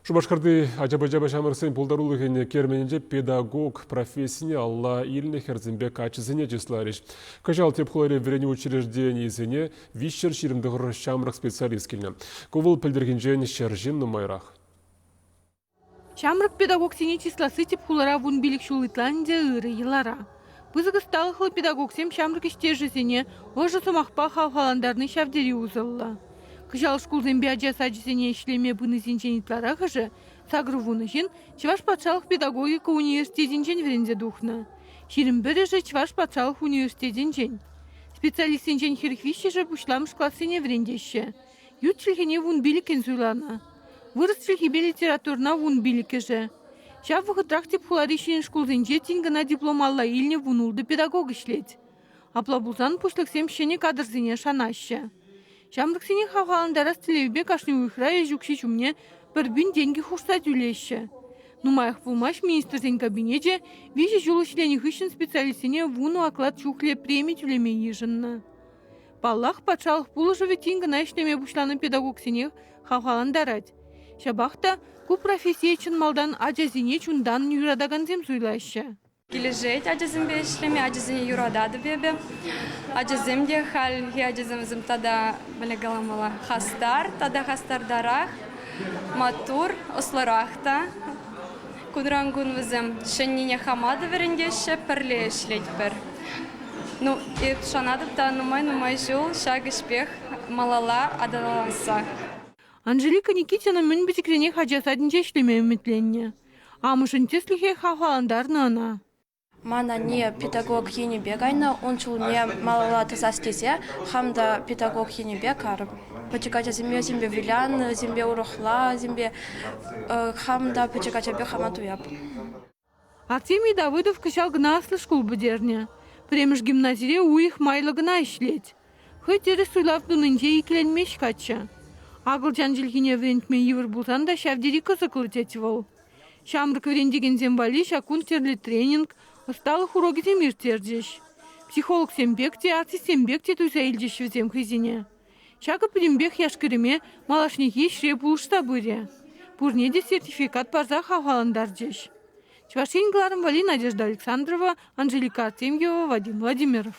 Шупашкарти ача-пӑча ҫамрӑксен пултарулӑхӗн керменӗнче педагог профессине алла илнӗ хӗрсемпе каччӑсене чысларӗҫ. Кӑҫал тӗп хулари вӗренӳ учрежденийӗсене виҫҫӗр ҫирӗм тӑхӑр ҫамрӑк специалист килнӗ. Ку вӑл пӗлтӗрхинчен ҫӗр ҫын нумайрах. Ҫамрӑк педагогсене чысласси тӗп хулара вун пилӗк ҫул ытла ӗнтӗ ырӑ йӑлара. Пысӑк ӑсталӑхлӑ педагогсем ҫамрӑк ӗҫтешӗсене ӑшӑ сӑмахпа хавхалантарни ҫав тери усӑллӑ. Кӑҫал шкулсемпе ача сачӗсене ӗҫлеме пынисенчен ытларахӑшӗ, сакӑр вунӑ ҫын, Чӑваш патшалӑх педагогика университетӗнчен вӗренсе тухнӑ. Ҫирӗм пӗрӗшӗ Чӑваш патшалӑх университетӗнчен. Специалистсенчен хӗр виҫҫӗшӗ пуҫламӑш классене вӗрентеҫҫӗ. Ют чӗлхене вун пилӗккӗн суйланӑ. Вырӑс чӗлхипе литературӑна вун пилӗккӗшӗ. Ҫав вӑхӑтрах тӗп хулари ҫӗнӗ шкулсенче тин кӑна диплом алла илнӗ вун ултӑ педагог ӗҫлет. Апла пулсан пуҫлӑхсем ҫӗнӗ кадрсене шанаҫҫӗ. Ҫамрӑксене хавхалантарас тӗллевпе кашни уйӑхра ӗҫ укҫи ҫумне пӗр пин тенкӗ хушса тӳлеҫҫӗ. Нумаях пулмасть Министрсен Кабинечӗ виҫӗ ҫул ӗҫленӗ хыҫҫӑн специалистсене вунӑ оклад чухлӗ преми тӳлеме йышӑннӑ. Паллах, патшалӑх пулӑшӑвӗ тин кӑна ӗҫлеме пуҫланӑ педагогсене хавхалантарать. Ҫапах та ку профессие чӑн малтан ачасене чунтан юратакансем суйлаҫҫӗ. Килӗшет ачасемпе ӗҫлеме, ачасене юрататӑп эпӗ. Ачасем те хальхи ачасем вӗсем тата, мӗне каламалла, хастар, тата хастартарах, маттур, ӑслӑрах та. Кунран-кун вӗсем ҫӗннине хама та вӗрентеҫҫӗ, пӗрле ӗҫлетпӗр. Ну, шанатӑп та нумай-нумай ҫул ҫак ӗҫпех малалла аталансах. Анжелика Никитина мӗн пӗчӗкренех ача садӗнче ӗҫлеме ӗмӗтленнӗ. Амӑшӗн тӗслӗхӗ хавхалантарнӑ ӑна. Ман анне педагог енӗпе кайнӑ, ун ҫулне малалла тӑсас тесе хам та педагог енӗпе карӑм. Пӗчӗк ачасемпе вӗсемпе вылянӑ, урӑхласемпе хам та пӗчӗк ачапе хама туяп. Артемий Давыдов кӑҫал кӑна аслӑ шкул пӗтернӗ. Пӗрремӗш гимназире уйӑх майлӑ кӑна ӗҫлет. Хӑй тӗрӗс суйлав тунинче иккӗленмест каччӑ. Акӑлчан чӗлхине вӗрентме йывӑр пулсан та ҫав тери кӑсӑклӑ тет вӑл. Ҫамрӑк вӗрентекенсем валли ҫак кун тӗрлӗ тренинг, ӑсталӑх урокӗсем ирттерчӗҫ. Психологсем пек те, артистсем пек те туйса илчӗҫ вӗсем хӑйсене. Ҫакӑ пӗтӗмпех яш-кӗрӗме малашнехи ӗҫре пулӑшса пырӗ. Пурне те сертификат парса хавхалантарчӗҫ. Чӑваш Ен кӑларӑм валли Надежда Александрова, Анжелика Артемьева, Вадим Владимиров.